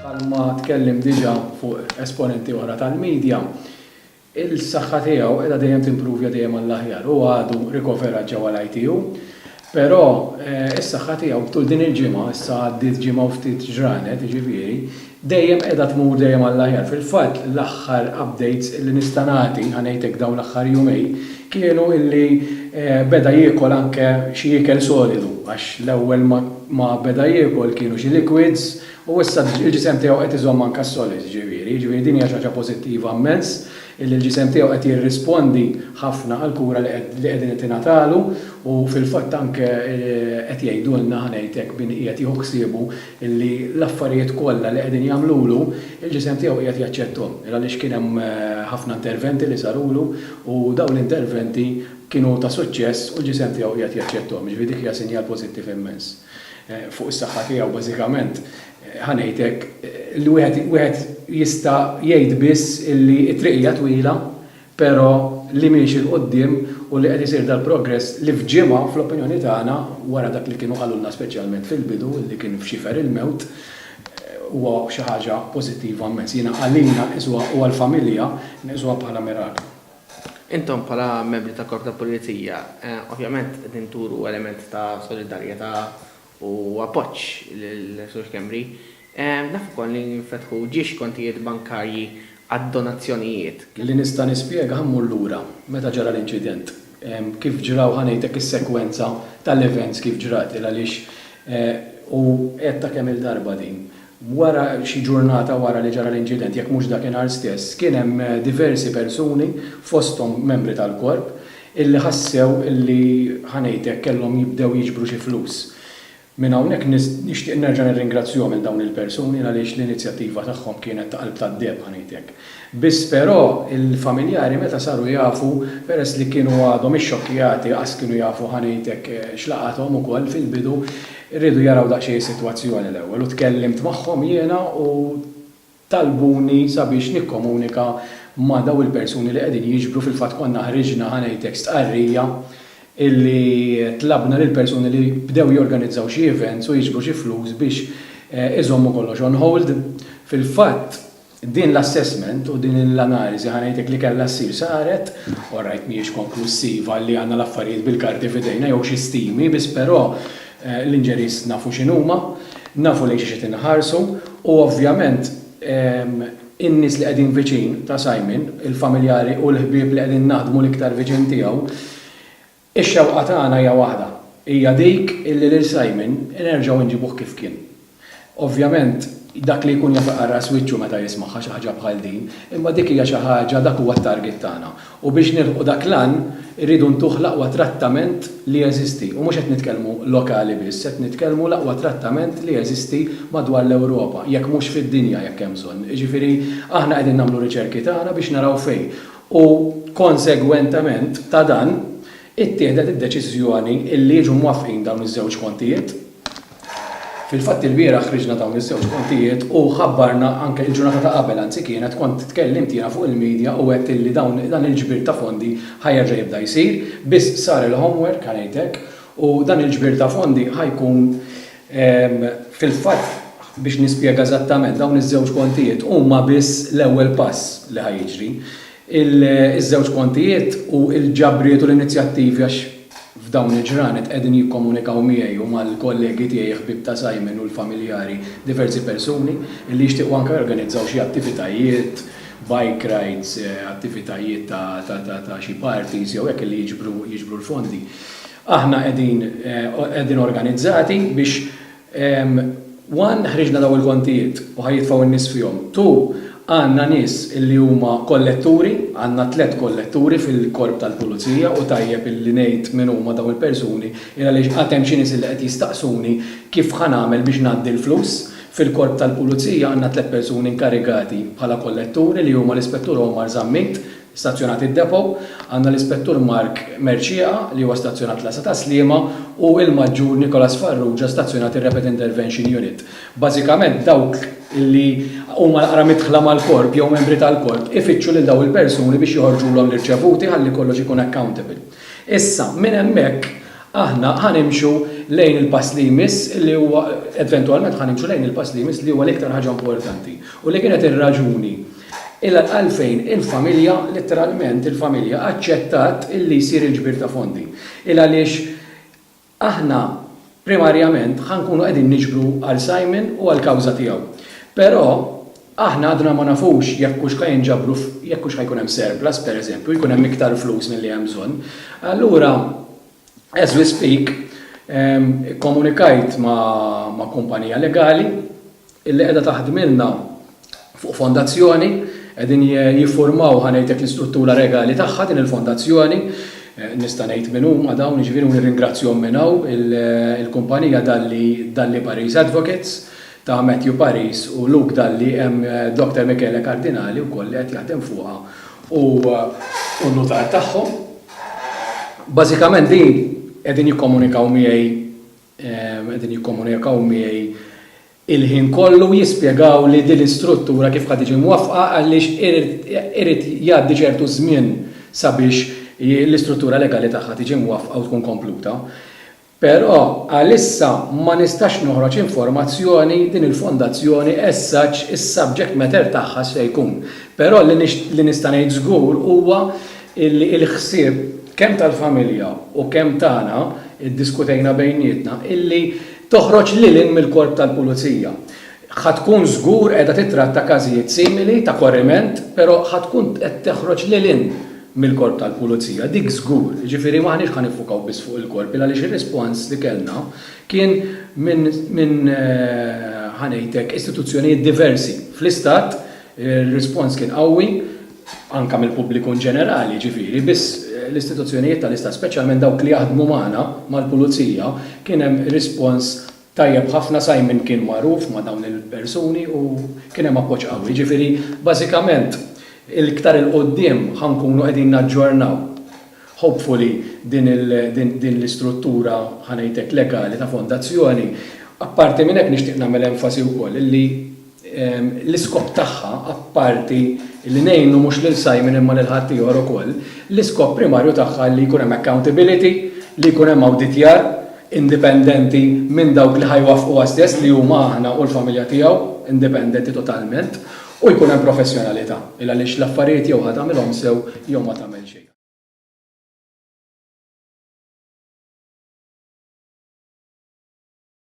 Bħalma tkellem diġà fuq esponenti oħra tal-media, il-saħħa tiegħu qiegħda dejjem timprovja dejjem għall-aħjar. Hu għadu rikoverat ġewwa l-ITU, però s-saħħa tiegħu tul din il-ġimgħa, issa għaddiet ġimgħa u ftit ġranet, jiġifieri, dejjem qiegħda tmur dejjem għall-aħjar. Fil-fatt l-aħħar updates illi nista' nagħti, ħa ngħid hekk dawn l-aħħar jumejn, kienu illi beda jiekol anke xi ikel solidu għax l-ewwel ma beda jiekol kienu xi liquids u issa l-ġisem tiegħu qed iżomm anke s-solids ġifieri. Ġifieri din hija xi ħaġa pożittiva mmens illi l-ġisem tiegħu qed jirrispondi ħafna għall-kura li qegħdin qed tingħatalu u fil-fatt anke qed jgħidulna, ħa ngħid hekk, min qiegħed jieħu ħsiebu illi l-affarijiet kollha li qegħdin jagħmlulu, il-ġisem tiegħu qiegħed jaċċetthom, għaliex kien hemm ħafna interventi li sarulu u dawn l-interventi kienu ta' suċċess u l-ġisem tiegħu qiegħed jaċċetthom. Jiġifieri dik hija sinjal pożittiv immens fuq is-saħħa tiegħu. Bażikament, ħa ngħid hekk, li wieħed jista' jgħid biss illi t-triq hija twila, Però li miexi 'l quddiem u li qed isir dal-progress li f'ġimgħa, fl-opinjoni tagħna, wara dak li kienu qalulna speċjalment fil-bidu li kien f'xifer il-mewt, huwa xi ħaġa pożittiva mmens. Jiena għalina nqisuha u għall-familja nqisuha bħala miraklu. Intom bħala membri tal-Korp tal-Pulizija, ovvjament qegħdin turu element ta' solidarjetà u appoġġ lil Sur Schembri. Naf ukoll li nfetħu ġiex kontijiet bankarji għad-donazzjonijiet. Li nista' nispjega ħa mmur lura meta ġara l-inċident. Kif ġraw ħa ngħidlek is-sekwenza tal-events kif ġrat il għaliex u għedtha kemm-il darba din. Wara xi ġurnata wara li ġara l-inċident, jekk mhux dakinhar stess, kien hemm diversi persuni, fosthom membri tal-Korp, illi ħassew illi, ħa ngħid hekk, kellhom jibdew jiġbru xi flus. Minn hawnhekk nixtieq nerġa' nirringrazzjahom lil dawn il-persuni għaliex l-inizjattiva tagħhom kienet ta' qalb tad-deheb, ħa ngħid hekk. Biss però il-familjari meta saru jafu, peress li kienu għadhom ixxokkjati qas kienu jafu ħa ngħid hekk x'laqathom ukoll fil-bidu, riedu jaraw daqsxejn is-sitwazzjoni l-ewwel u tkellimt magħhom jiena u talbuni sabiex nikkomunika ma' dawn il-persuni li qegħdin jiġbru fil-fatt konna ħriġna ħa ngħid hekk stqarrija illi tlabna lill-persuni li bdew jorganizzaw xi events u jiġbru xi flus biex iżommu kollox on hold. Fil-fatt, Din l-assessment u din l-analiżi ħa ngħidlek li kellha ssir saret, orajt mhijiex konklussiva li għandna l-affarijiet bil-karti f'idejna jew xi stimi biss però l-injuries nafu x'inhuma, nafu lejn xiex qed inħarsu u ovvjament in-nies li qegħdin viċin ta' Simon, il-familjari u l-ħbieb li qegħdin naħdmu l-iktar viċin tiegħu, Ix-xewqa tagħna hija waħda, hija dik illi lil Simon nerġgħu nġibuh kif kien. Ovvjament, dak li jkun jaf iqarraq wiċċu meta jismagħha xi ħaġa bħal din, imma dik hija xi ħaġa, dak huwa t-target tagħna. U biex nilħqu dak l-għan, irridu ntuh l-aqwa trattament li jeżisti. U mhux qed nitkellmu lokali biss, qed nitkellmu l-aqwa trattament li jeżisti madwar l-Ewropa, jekk mhux fid-dinja jekk hemm bżonn. Jiġifieri, aħna qegħdin nagħmlu riċerki tagħna biex naraw fejn. u konsegwentement ta' dan ittieħdet id-deċiżjoni illi jiġu mwaffqin dawn iż-żewġ kontijiet. Fil-fatt ilbieraħ ħriġna dawn iż-żewġ kontijiet u ħabbarna anke il-ġurnata ta' qabel anzi kienet kont tkellimt jiena fuq il-media u għedt illi dawn dan il-ġbir ta' fondi ħa jerġa' jibda jsir biss sar il-homework ħa ngħid hekk u dan il-ġbir ta' fondi ħa jkun Fil-fatt, biex nispjega eżattament, dawn iż-żewġ kontijiet huma biss l-ewwel pass li ħa jiġri. Iż-żewġ kontijiet u l-ġabriet u l-inizjattivi għax f'dawn il-ġranet qegħdin jikkomunikaw miegħi u mal-kollegi tiegħi ħbieb ta' Simon u l-familjari diversi persuni li jixtiequ anke jorganizzaw xi attivitajiet, bike rides, attivitajiet ta' xi parties jew hekk li jiġbru l-fondi. Aħna qegħdin qegħdin organizzati biex one ħriġna dawn il-kontijiet u ħa jitfgħu n-nies fihom, two għandna nies li huma kolletturi, għandna tliet kolletturi fil-Korp tal-Pulizija u tajjeb li ngħid min huma dawn il-persuni il għaliex għad hemm xi nies li qed jistaqsuni kif ħa nagħmel biex ngħaddi l-flus. Fil-Korp tal-Pulizija għandna tliet persuni inkarigati bħala kolletturi li huma l-Ispettur Omar Zammit, Stazzjonat id-Depot, għandna l-Ispettur Mark Mercieca li huwa stazzjonat l-Għassa tas-Sliema u l-Maġġur Nicholas Farrugia stazzjonat ir-Rapid Intervention Unit. Bażikament dawk li huma naqra midħla mal-Korp jew membri tal-Korp ifittxu lil dawn il-persuni biex joħorġulhom l-irċevuti ħalli kollox ikun accountable. Issa, minn hemmhekk aħna ħa nimxu lejn il-pass li jmiss li huwa, eventwalment ħa nimxu lejn il-pass li jmiss li huwa l-iktar ħaġa importanti u li kienet ir-raġuni Ilha għalfejn il-familja, litteralment il-familja, aċċettat li jsir il-ġbir ta' fondi. Ilha għaliex aħna primarjament ħa nkunu qegħdin niġbru għal Simon u għall-kawża tiegħu. Però aħna għadna ma nafux jekk hux ħa jinġabru jekk hux ħa jkun hemm surplus, pereżempju, jkun hemm iktar flus milli hemm bżonn. Allura, as we speak, ikkomunikajt ma' kumpanija legali, illi qiegħda taħdmilna fuq fondazzjoni, qegħdin jiffurmaw ħa ngħidlek l-istruttura regali tagħha din il-fondazzjoni, nista' ngħid min huma dawn, jiġifieri u nirringrazzjhom minn hawn, il-kumpanija Dalli Dalli Paris Advocates ta' Matthew Paris u Luke Dalli hemm Doctor Michele Cardinali wkoll li qed jaħdem fuqha u n-nutar tagħhom. Bażikament din qegħdin jikkomunikaw miegħi qegħdin jikkomunikaw miegħi l-ħin kollu jispjegawli din l-istruttura kif ħa tiġi mwaffqa għaliex irid jgħaddi ċertu żmien sabiex l-istruttura legali tagħha tiġi mwaffqa u tkun kompluta. Però għalissa ma nistax noħroġ informazzjoni din il-fondazzjoni as such is-subject matter tagħha x'se jkun. Però li nista' ngħid żgur huwa illi l-ħsieb kemm tal-familja u kemm tagħna ddiskutejna bejnietna illi toħroġ lil hinn mill-Korp tal-Pulizija. Ħa tkun żgur qiegħda tittratta każijiet simili ta' korriment però ħa tkun qed toħroġ lil hinn mill-Korp tal-Pulizija, dik żgur. Jiġifieri m'aħniex ħa niffukaw biss fuq il-Korp il għaliex ir-rispons li kellna kien minn ħa ngħidlek istituzzjonijiet diversi fl-Istat, ir-rispons kien qawwi, anke mill-pubbliku inġenerali, jiġifieri, biss l-istituzzjonijiet tal-Istat, speċjalment dawk li jaħdmu magħna, mal-pulizija, kien hemm rispons tajjeb ħafna, Simon kien magħruf ma' dawn il-persuni u kien hemm appoġġ qawwi. Jiġifieri, bażikament, l-iktar 'il quddiem ħa nkunu qegħdin naġġornaw, hopefully, din l-istruttura, ħa ngħid hekk, legali ta' fondazzjoni. Apparti minn hekk nixtieq nagħmel enfasi wkoll li l-iskop tagħha, apparti li ngħinu mhux lil Simon imma lil ħaddieħor ukoll, l-iskop primarju tagħha li jkun hemm accountability, li jkun hemm awditjar indipendenti minn dawk li ħa jwaffquha stess li huma aħna u l-familja tiegħu, indipendenti totalment, u jkun hemm professjonalità, il-għaliex l-affarijiet jew ħa tagħmilhom sew jew ma tagħmel xejn.